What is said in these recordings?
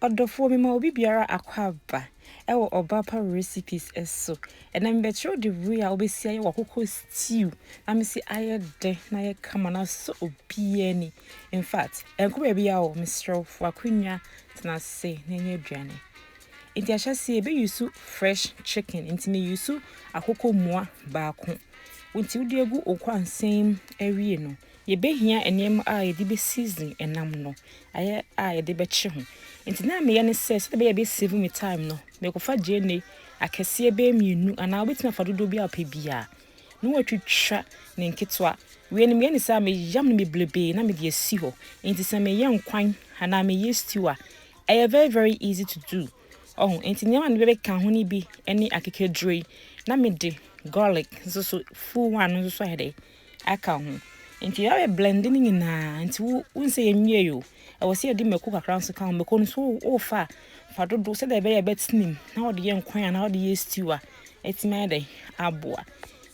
Ɔdɔfoɔ, mema obi biara akwaaba wɔ Ɔbaapa Recipes so. Ɛnnɛ mebɛkyerɛ wo dewuree a wobɛsi ayɛ w'akokɔ stew na mese ayɛ dɛ na ayɛ kama na asɔ obiara ani. In fact, ɛnkɔ baabiara o, mesrɛ wo fa akonnwa tena ase na ɛnyɛ aduane. Nti ahyɛseɛ yɛbɛyusu fresh chicken, nti meyusu akokɔ mua baako. Nti wode agu wo kwansɛn mu awie no, Yɛbɛhia nneɛma a yɛde bɛ season ɛnam no, ayɛ a yɛde bɛkye ho. Nti na meyɛ ne sɛ, sɛdeɛ ɛbɛyɛ bɛ save me time no, mekɔfa gyeene akɛseɛ bɛyɛ mmienu, anaa wobɛtumi afa dodoɔ bi a wopɛ biara, na watwitwa ne nketewa. Wei no meyɛ ne saa, meyam no bebrebee na mede asi hɔ. Nti sɛ meyɛ nkwan anaa meyɛ stew a, ɛyɛ very very easy to do. Ɔho, nti nneɛma no bɛbɛka ho no bi ne akekaduro yi, na mede garlic nso so, full one no nso so ayɛ dɛ, aka ho. Nti yɛ ayɛ blend no nyinaa. Nti wo wonse yɛ nwie yo. Ɛwɔ sɛ yɛde mako kakra nso ka ho. Mako no so wo fa fa dodo sɛ dɛ ɛbɛyɛ bɛtenim na wɔde yɛ nkwan a na wɔde yɛ stew a ɛtumi ayɛ dɛ aboa.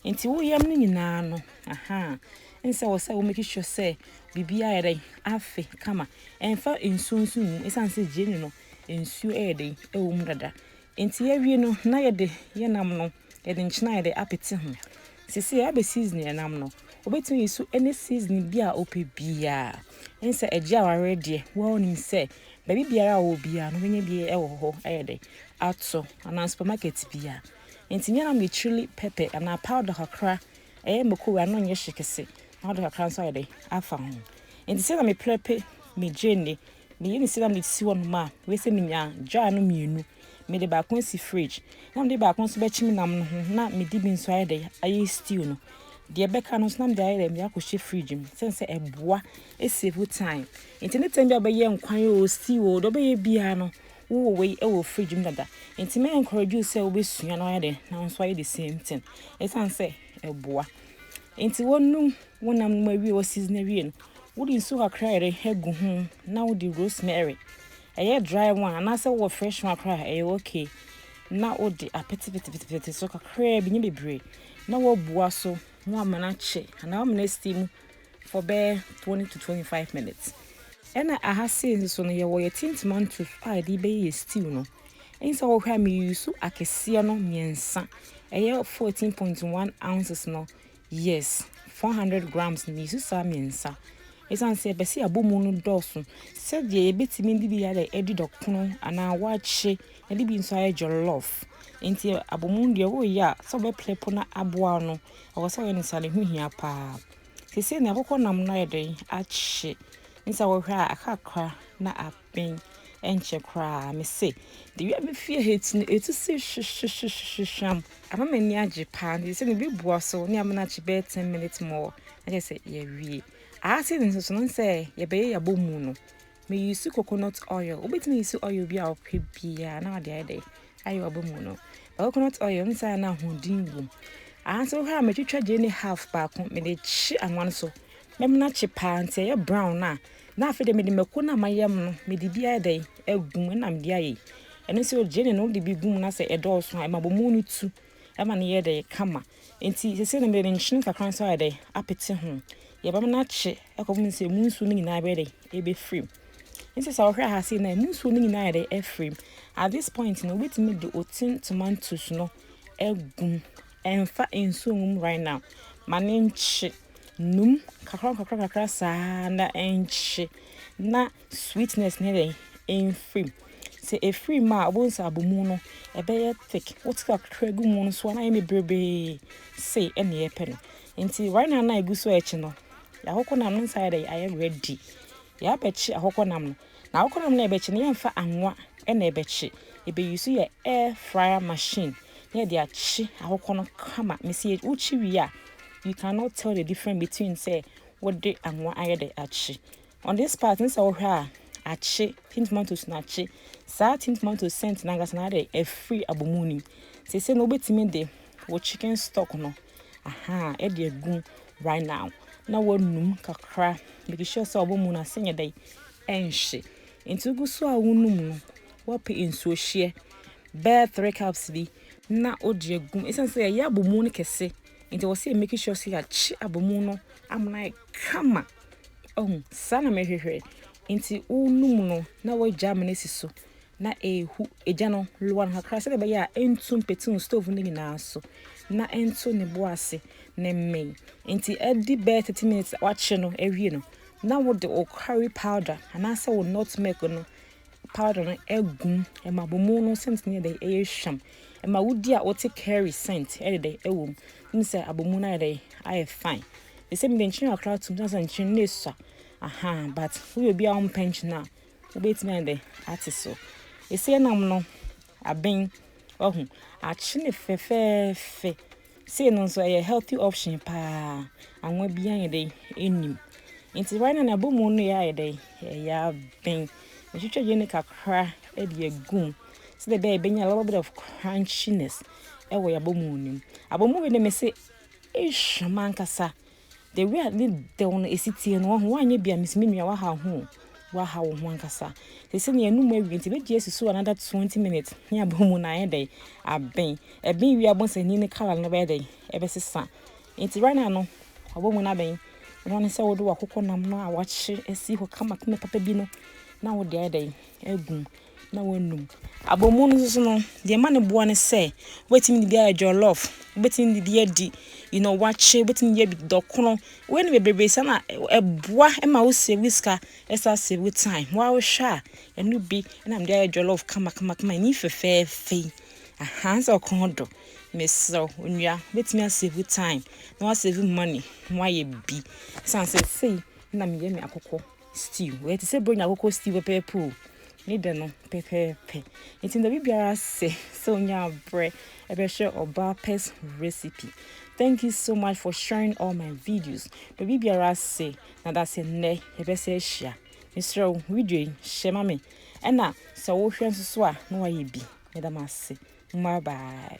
Nti wo yam no nyinaa no aha nsɛ wɔ sɛ wo make sure sɛ biribi ayɛ dɛ afe kama. Ɛmfa nsuo nso ngu. Ɛsan sɛ gyeene no nsuo ɛyɛ dɛ ɛwɔ mu dada. Enti yɛawie no, na yɛde yɛn nam no, yɛde nkyene a yɛde apete ho. Seesei yɛabɛ season yɛn nam no. Wobɛtumi ayi so any seasoning bi a wopɛ biara. Ɛne sɛ agye awareɛ deɛ, woa wonim sɛ baabi biara a ɔwɔ biara no wobɛnya bi wɔ hɔ ayɛ dɛ ato anaa supermarket biara. Enti nyɛ nam yɛ chili pɛpɛ anaa powder kakra, ɛyɛ mako wei ano nyɛ hye kɛse na wode kakra nso ayɛ dɛ afa ho. Enti sɛdeɛ meprɛpe me gyeene, Meyɛ ne sei na mede sisi hɔnom a, wei sɛ menya jar no mmienu. Mede baako asi fridge na mede baako nso bɛkyim nam no ho na mede bi nso ayɛ dɛ ayɛ stew no. Deɛ ɛbɛka no nso na mede ayɛ dɛ mede akɔhyɛ fridge mu sɛne sɛ ɛboa ɛsave time. Nti ne time bi a wobɛyɛ nkwan o stew o deɛ wobɛyɛ biara no wowɔ wei wɔ fridge mu dada. Nti mɛ encourage wo sɛ wobɛsua na wayɛ dɛ na wo nso ayɛ the same thing ɛsiane sɛ ɛboa. Enti wonum wo nam no mu awie, wo season awie no, wode nsu kakra yere gu ho na wode rosemary. Ɛyɛ dry one anaasɛ wowɔ fresh one koraa ɛyɛ okay. Na wode apetepetepete so kakraa bi, nyɛ bebree. Na woabua so na woama no akye anaa woama no asi mu. for bɛyɛ twenty to twenty five minutes. Ɛna aha sei nso so no yɛwɔ yɛ tin tomatoes a yɛde bɛyɛ yɛ stew no. Ɛnyi sɛ wɔhwɛ a me use akɛseɛ no mmiɛnsa. Ɛyɛ fourteen point one ounces no. Yes, four hundred grams no me use saa mmiɛnsa. Ɛsan sɛ ɛbɛsi abɔ mu no dɔɔso. Sɛdeɛ yɛbɛtumi de bi ayɛ ɛdi dɔkono anaa wakye na de bi nso ayɛ jollof. Nti abɔ mu deɛ wɔreyɛ a sɛ wɔbɛplepo na aboa no ɛwɔ sɛ wɔyɛ ne saa ne ho hia paa. Seesei nea akokɔ nam no ayɛ dɛn akye? N sɛ wohwɛ a aka kakra na aben ɛnkyɛ koraa. Me se, de wia me fie ha ti no etu se hwehwehwehwehwam. Ama m'ani agye paa. Nti seesei no bi boa so ne amena akye bɛyɛ ten minutes more na kyerɛ sɛ yɛawie. Aa seesei nso so no n sɛ yɛbɛyɛ yɛabɔ mu no. Me use coconut oil. Wobɛtumi use oil bi a wopɛ biara na wɔde ayɛ dɛ ayɛ ɔba mu no. But coconut oil no saa na ahoɔden wɔ mu. Ansa wohwɛ a metwitwa gye ne half baako mede kye anwa no so. Mɛma no akye paa nti ɛyɛ brown no a na afei de mede mako no a mayam no mede bi ayɛ dɛ agu mu na mede ayɛ. Ɛno nso gye ne no wode bi gu mu na sɛ ɛdɔɔso a ɛma bɔmu no tu ɛma no yɛ dɛ kama. Nti sɛsɛ no mede nkyene kakra nso ayɛ dɛ apete ho. Yɛbɛma no akye Ɛkɔm no sɛ emu nsuo no nyinaa bɛyɛ dɛ ɛbɛfirim nti sɛ wohwɛ ha sei na emu nsuo no nyinaa yɛ dɛ afirim at this point no wobɛtumi de otin tomatoes no agum ɛmfa nsuo ngum right now ma ne nkye num kakra kakra kakra saa na ɛnkye na Sweetness ne dɛn? Ɛmfirim. Sɛ ɛfiri mu a, wobɛhu sɛ abomu no, ɛbɛyɛ thick. Wote kakra gu mu no so a, na ɛyɛ bebrebee se ɛne yɛpɛ no. Nti right now na ɛgu so ɛkye no, akokɔ nam no nsa ayɛ dɛn? Ayɛ ready. Yɛabɛkye akokɔ nam no. Na akokɔ nam no ɛbɛkye no, yɛmfa anwa na ɛbɛkye. Ɛbɛyi so yɛ air fryer machine na yɛde akye akokɔ no kama. Mesi wokye wie a, you cannot tell the difference between sɛ wode anwa ayɛ dɛn akye. On this part ne sɛ wohwɛ a akye tin tomatoes no akye saa tin tomatoes scent no ankasa na ade afiri abɔ mu nim sese no wobɛtumi de wo chicken stock no aha ɛde agu right now na wɔnum kakra make sure sɛ ɔbɔ mu no ase nyɛ dɛn ɛnhye nti wogu so a wonum no wɔpe nsuo hyeɛ bɛɛ 3 cups bi na wode agum ɛsiane sɛ yɛyɛ abɔ mu no kɛse nti wɔ sɛ make sure sɛ yɛakye abɔ mu no amena kama. Wahu? Saa na mehwehwɛ. Nti wonum no na wagya amena si so na ehu egya no loa no kakra sɛdeɛ ɛbɛyɛ a ɛntu mpete wo stove no nyinaa so na ɛnto ne bo ase na mmee. Nti adi bɛyɛ 30 minutes a wakye no awie no na wode wo curry powder anaasɛ wo nutmeg no powder no agum ɛma bomu no scent no yɛ dɛ ɛyɛ hwam ɛma wodi a wote curry scent ɛde dɛ ɛwɔ mu ne sɛ abomu no ayɛ dɛ ayɛ fine. They say me de nkyene kakra atum na sɛ nkyene na esua. Aha, but woyɛ obi a ɔmpɛ nkyene a, wobɛtumi ayɛ dɛ ate so. Ɛsɛ nam no aben wahu akyene fɛfɛɛfɛ. Sei no nso ɛyɛ healthy option paa. Anwa bi ayɛ dɛ ɛnim. Nti right now na ɛbɔ mu no yɛ ayɛ dɛ ɛyɛ aben. Ɛtwitwa yɛ ne kakra ɛde agum. Sɛ dɛ ɛbɛnya a little bit of crunchiness ɛwɔ yɛ abɔ mu no mu. Abɔ mu wei na mese Eish mankasa The way a ne dɛw no esi teɛ no wahu wanyɛ bi a mese me nua wahaw ho o wahaw wo ho ankasa sese no yɛnum awie nti ebetumi asusuw another 20 minutes ne abɔ mu na ayɛ dɛn aben ɛben wie abonsani ne colour no bɛyɛ dɛn ɛbɛsesa nti right now no ɔbɔ mu no abɛn ɛno ne sɛ wode wakokɔ nam no a wakye asi hɔ kama kama papa bi no na wode ayɛ dɛn agum na wɔanum. Abɔmu no nso no, deɛ ɛma no boɔ ne sɛ wobɛtumi de bi ayɛ jollof, wobɛtumi de bi adi you know wakye, wobɛtumi de bi adi dɔkono. Wei no bebrebe sɛ na ɛboa ma wo save wo sika, ɛsa save wo time. Wa wohwɛ a ɛno bi na mede ayɛ jollof kama kama kama ɛni fɛfɛɛfɛ yi. Aha sɛ ɔkɔn do. Mesrɛ wo onua, wobɛtumi asave wo time na wasave money na wayɛ bi. San sɛ sei na meyɛ me akokɔ. stew wɔyɛ te sɛ bronya koko stew pɛpɛɛpɛ o ne dɛ no pɛpɛɛpɛ nti na biribiara sɛ sɛ onya abrɛ ɛbɛhwɛ ɔbaa pɛs recipe thank you so much for sharing all my videos na biribiara sɛ na da sɛ nnɛ yɛbɛsɛ ahyia mesrɛ wo video yi hyɛ ma me ɛna sɛ wohwɛ nso so a na wayɛ bi meda mo ase bye bye